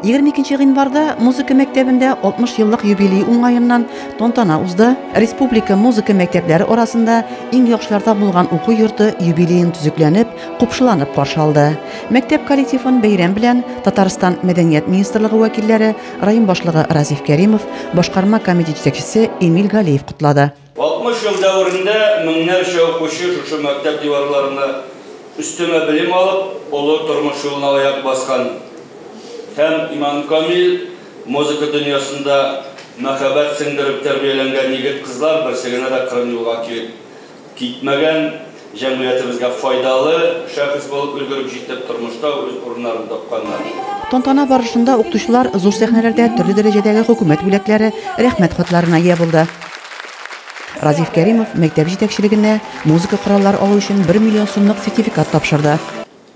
22 гыйнварда музыка мәктәбендә 60 еллык юбилей уңаеннан тантана узды. Республика музыка мәктәпләре арасында иң яхшылар табылган уку йорты юбилеен төзекләнеп, купшыланып каршы алды. Мәктәп коллективын бәйрәм белән Татарстан Мәдәният министрлыгы вәкилләре, район башлыгы Разиф Кәримов, башкарма комитет җитәкчесе Эмиль Галиев котлады. 60 ел дәверендә меңнәрчә укучы шушы мәктәп диварларында өстәмә белем алып, олы тормыш юлына аяк баскан һәм Иманкамил музыка дөньясында мәхәббәт сеңдереп тәрбияләнгән егет-кызлар берсе генә дә кырын юлга килеп китмәгән. Җәмгыятебезгә файдалы шәхес булып өлгереп җитеп, тормышта үз урыннарын тапканнар. Тантана барышында укытучылар зур сәхнәләрдә төрле дәрәҗәдәге Хөкүмәт бүләкләре, Рәхмәт хатларына ия булды. Разиф Кәримов мәктәп җитәкчелегенә музыка кораллары алу өчен бер миллион сумлык сертификат тапшырды.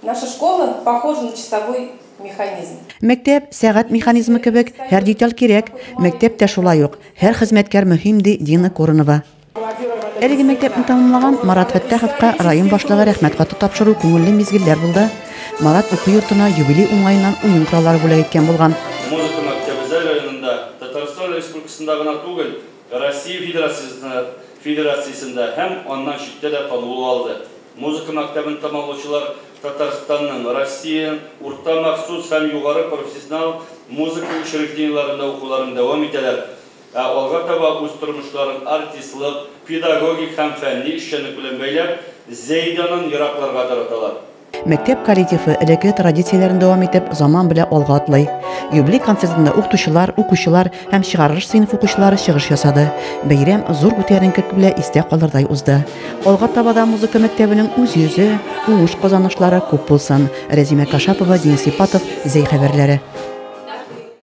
Наша школа похожа на часовой механизм. Мәктәп, сәгать механизмы кебек, һәр деталь кирәк. Мәктәп тә шулай ук, һәр хезмәткәр мөһим, ди Дина Коронова. Әлеге мәктәпне тәмамлаган Марат Фәттаховка район башлыгы рәхмәт хаты тапшыру күңелле мизгелләр булды. Марат уку йортына юбилей уңаеннан уен кораллары бүләк иткән булган. Музыка мәктәбе Зәй районында Татарстан Республикасында гына түгел, Россия Федерациясендә Федерациясендә һәм аннан читтә дә танылу алды. Музыка мәктәбен тәмамлаучылар Татарстанның, Россиянең урта махсус һәм югары профессионал музыка учреждениеләрендә укуларын дәвам итәләр, Ә алга таба үз тормышларын артистлык, педагогик һәм фәнни эшчәнлек белән бәйләп, Зәйданын еракларга тараталар. Мәктәп коллективы элекке традицияләрен дәвам итеп, заман белән алга атлый. Юбилей концертында укытучылар, укучылар һәм чыгарылыш сыйныф укучылары чыгыш ясады. Бәйрәм зур күтәренкелек белән истә калырдай узды. Алга таба да музыка мәктәбенең үз йөзе, уңыш казанышлары күп булсын! Рәзимә Кашапова, Денис Ипатов, Зәй хәбәрләре.